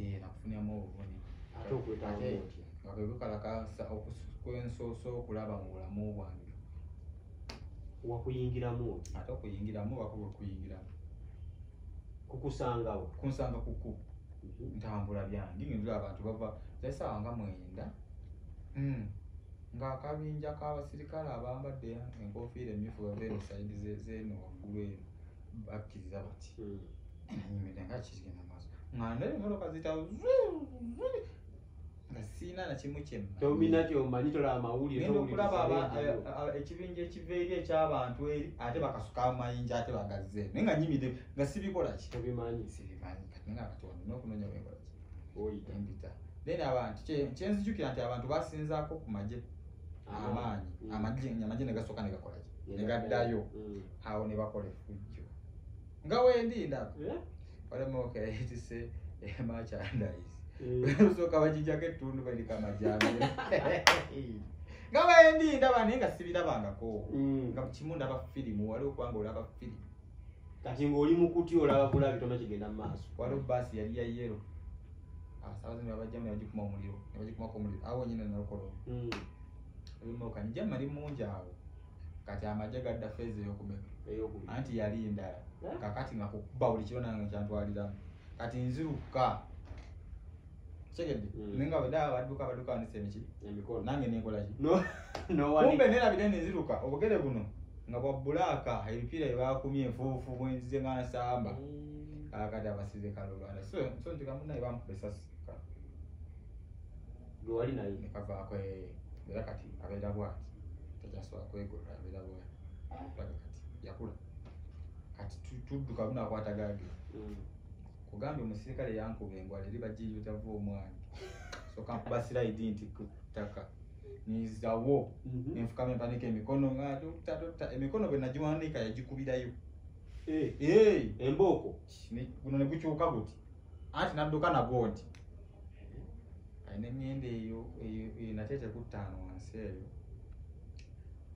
eh, nakufuniramu obuvune ate okwetaaga otya nga kwe kukalakasa okwensoose okulaba mu bulamu bwange wakuyingiramu otya ate okuyingiramu oba kuba okuyingiramu kukusangawo kunsanga kuku mhm. ntambula byange nindula abantu bava zaisaawa nga mwenda hmm. ng'akabinja k'abasirikale abambadde enkofiira emmyufu bava eno sayidi zeno waggulu eno bakkiriza bati nanyumidde nga kizigenda maaso nga ndaba emotoka zitawo nga siina nakimu kyemmaominati omanyi tola amawulire genda okulaba ekibinja ekiva eri ekyabantu eri ate bakasuka amayinja ate bagazze naye nga nyimide nga sibikolaki obimanyi sibimanyi kati nga katonda nokunonya wekolaki oyita mpita then abantu kyenzijukira nti abantu basinzaako ku magye amaanyi mm. amagye amagye ne gasooka ne gakola ki ne gaddayo mm. awo ne bakola effujjo nga wendi ndaba eh? walamuokayitise emachandise usooka eh. bakijjako ettundu balika amajambe nga wendi ndaba naye nga sibirabangako mm. nga kimu ndaba firimu wali okubanga olaba firimu kati ng'oli mu kuti olaba bulabi tona kigenda mu maaso waliwo baasi yali ya yero abasawo zino abajjamu nebagikuma omuliro nebagikumako omuliro awo wenyini nalukolo hmm. ebimoka njama li mungi awo kati amaje gadda feeza eyokumeka anti yali ndala eh? kakati nga kukuba buli kiro nange kyantwaliramu kati nziruka kitegedde hmm. naye nga bwedaba baduka baduka nisa emiki nange nenkolaki kumbe nerabire nenziruka obugere buno nga bwa bulaaka ebipiira byebakumye enfuufu bwenzize nga nsamba hmm. kakati abasize kalulwala so so nti kamu naye bamukuba esasi gwe wali naye nekavaako eh, era kati abeera bwati takyasobola kwegolola abeera bwati kati yakula kati tudduka bunakwata gage mm. kugambye omusirikale yankuba engwala eri bajiiyo tava omwana soka nkuba siraidi nti kutaka nizawo mm-hmm. nenfukama empaniko emikono nga emikono bwe nagiwandiika yagikubirayo Eh, eh, embooko guno ne gukyuka guti anti nadduka nagwo nti alina emyenda eyo nate tekuttaano wansi eyo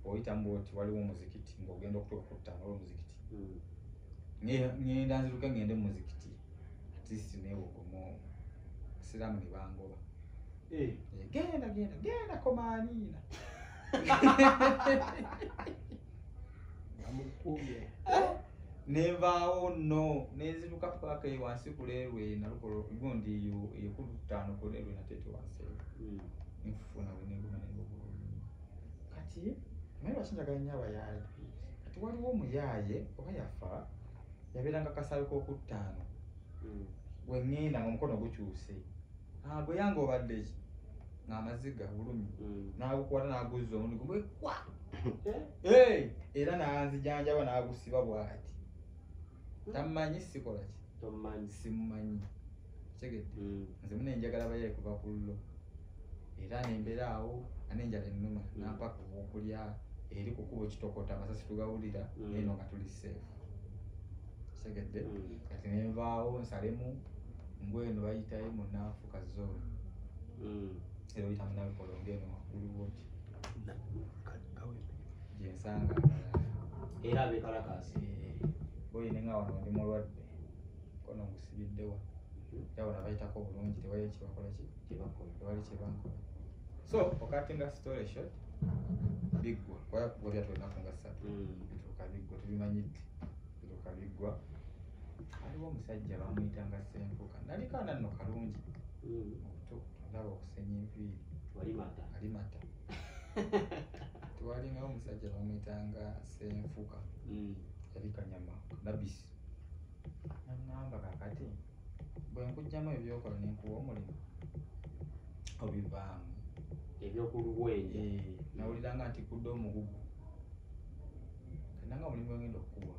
oyitamu oti waliwo omuzikiti ngaogenda okutuuka kuttaano olwo omuzikiti hmm. ngenda nziruke ngende mumuzikiti atist newogomo siramu nebangoba eh. genda genda genda komaaniina amukubye eh? nenvaawo no nenziruka paka wansi kulerwe nalukola gundi yekutano kulerwe natete wansi hmm. nfuna wenengumanengubuulumi kati naye lwakinjagala nyo abayaaye kati waliwo omuyaaye oba yafa yabeeranga kasaabe kokuttaano hmm. wengenda nga omukono gukyuse ah, gwe yange obaddeki ngamaziga bulumi hmm. nagukwata naguzza omundi gumwekwa Eh, era nanzijanjaba nagusiba bwati tammanyi sikola ki tommanyi simumanyi kitegedde Mm. nze muna enjagala bayaye kuva ku llo era nembeera awo anenjala ennuma Mm. nampaka owokulya eri kukubo kitokota amasasi tugawulira Mm. neno nga tuli seefu kitegedde Mm. kati nenvaawo nsalemu ngweno bayitayo munanfuka zone Mm. era oyita munabikolonga eno waggulu woti gyensanga era abekalakaasi boyine nga wano ndi mulwadde kono ngusibiddewa era bona bayitako bulungi tewali kyebakola tewali kyebankola so okatinga story shot biggwa kubanga kuba byatwenaku nga ssatu mm. bituuka biggwa tubimanyidde bituuka biggwa waliwo omusajja bamuyitanga senfuka naliko ananno kalungi mm. ndaba okusenya enviiri walimata alimata twalingawo omusajja bamwitanga senfuka mm. yali kanyama nabisi nangamba kakati bwenkujjamu ebyokola nenkuwa omulimu obivaamu ebyokulubwenja eh, nawuliranga nti kudde omugugu kananga omulimu gwengenda okukuwa